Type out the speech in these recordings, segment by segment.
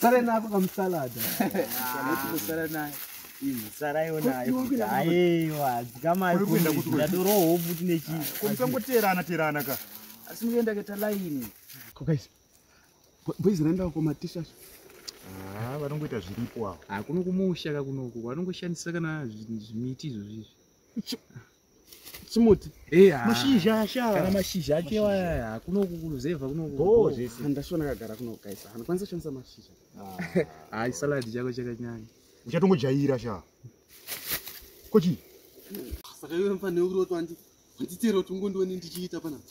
sare nako kamusalada saraiwo nayo aiwa dzikamaiadoroho futi nechiisangoteerana teerana ka asi mukuenda keta laini kokais boizi raenda ko matisha ah, vanongoita zviripo avo ah, kuno kumusha ka kunoku vanongoshandisa kana zvimiti izvozvizvi chimuti eh, ah. mashizha asha kana mashizha ake waya kunokuruzevha kunokundashona kagara kunokaisa anokwanisa kushandisa mashizha ah. hayi saladi chako chakanyanya uchatongojaira sha kochi saka iwe mfanhe ukuri wati wanditera kuti ungondione ndichiita panapo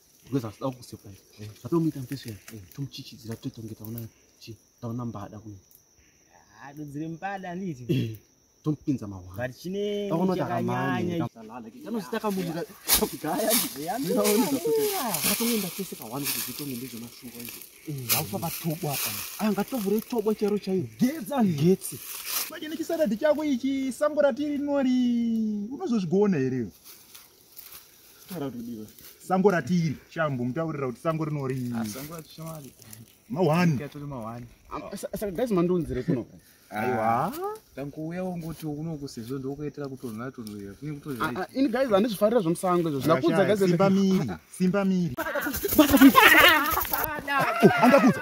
because asida kukusurprise eh. zvatomuita mfeso ya eh. tomuchichidzira totonge taona chi taona mbada kuno adodzire mbada anditi eh, tomupinza mahwani chine taona kuti akamanya kanozita kamuita kudhaya ndatoenda tese kahwani kuti zvitonge ndezvemashuwa izvo aufa vatobo apa angatovhure ah, tobo chero chaiyo getsi ani getsi manje nechisaradi chako ichi sango ratiri rinori unozozvigona here sango ratiri shambo mutaurira kuti sango rinorii ah, tankuuya wongoti unoku sezvo ndokuitira kutonhora tonhorera kune kutoini ah, ah, guys handi zvifarira zvomusango izvo zvinakuudza guys simba miri simba miri andakuudza